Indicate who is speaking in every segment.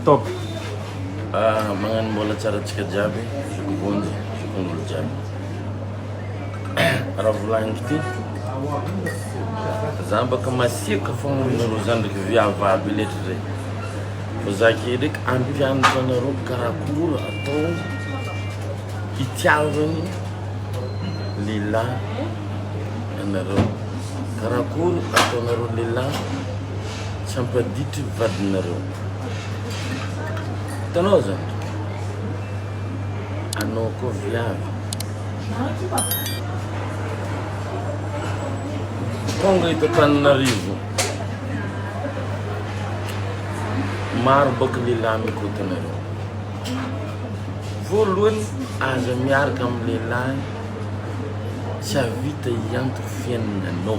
Speaker 1: Top!
Speaker 2: Magnano mbola tsara antsika jiaby, zoky vonjy, zokingolo jiaby. Raha volagniko ty, za mbaka masiaka fogna amin'ny roa zandriko viavy aby letra re. Fa za ke ndraiky hampianatra anareo karakôry atao hitiavany lehilahy anareo, karakôry ataonareo lehilahy tsy hampaditry vadinareo. Hitanao zao. Anao koa viavy. Tonga eto Antananarivo. Maro baka lehilahy mikoty anareo. Voalohany aza miaraka amin'ny lehilahy tsy avita hiantoka fiainanao.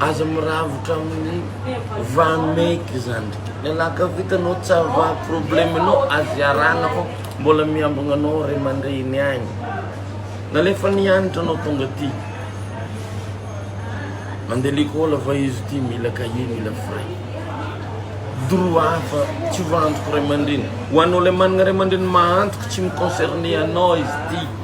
Speaker 2: aza miravotra amin'ny vameky zany lelaka vitanao tsy ava probleme anao azy arana fo mbola miambogna anao ray aman-dreny agny nalefa nianatra anao tonga ty mandeha lekôly fa izy ty mila cahier mila fray droit hafa tsy ho antoko ray aman-dreny ho anao le managna ray aman-dreny mahantoko tsy mi-concerner anao izy ty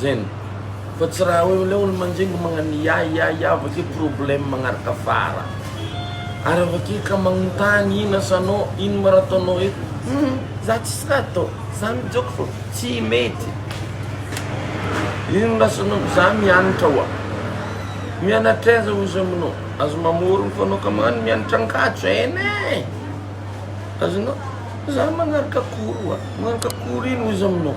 Speaker 2: Zen. Fa tsy raha hoe ilay olo manjingo magnano ya ya ya avy akeo problème magnaraka fara. Ary avy akeo ka magnontany ino asanao, ino ma raha ataonao eto? Hum, za tsisy raha atao, za mijôko fô, tsy mety. Ino asanao? Za mianatra oa. Mianatra aiza ozy aminao? Aza mamôrogno fô anao ka magnano mianatra ankatso ein ein! Azonao? Za magnaraka cours oa. Magnaraka cours ino ozy aminao?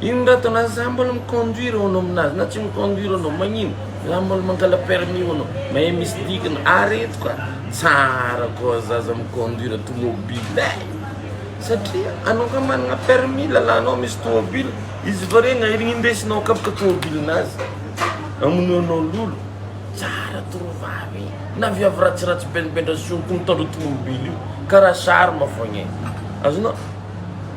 Speaker 2: Ino ndray atao na za mbola mi conduire hono aminazy na tsy mi conduire hono magnino za mbola mangala permis hono mahay misy dikany areto ka tsara koa zaza mi conduire tomobile eh satria anao ka manana permis lalanao misy tomobile izy vao regny aherigny indesinao akapoka tomobile nazy amonoanao lolo tsara tovovavy eh na viavy ratsiratsy benibendrasy io koa mitondra tomobile io karaha charme fogna eh azonao.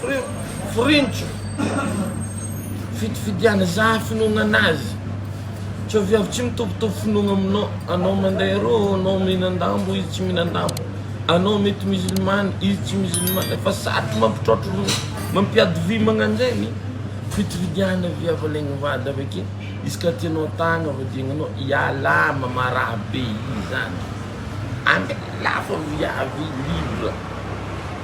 Speaker 2: Frintso, fidifidiana zah finoana anazy, tsy avy avy tsy mitovitovy finoana aminao, anao mandeha eroa, anao mihinan-dambo, izy tsy mihinan-dambo, anao mety musulmane, izy tsy musulmane, fa sady mampitraotra olona, mampiady vy magnanjegny, fidifidiana vy avalegny vady avake, izy ka tianao tagna avadiagnanao, ialahy mamaraha be izany, any lafo viavy libre.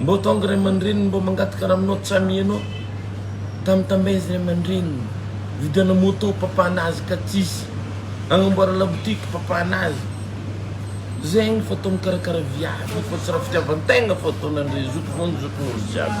Speaker 2: Mbô tônga ray aman-dreniny mbô mangataka raha aminao tsy amianao tam tam aiza ray aman-dreniny vidiana môtô papa nazy ka tsisy agnamboara labotiky papa nazy zegny fa atao mikarakara viavy fa tsy raha fitiavan-tegna fa ataon'andrey zoky vao ny zokin'olo jiaby.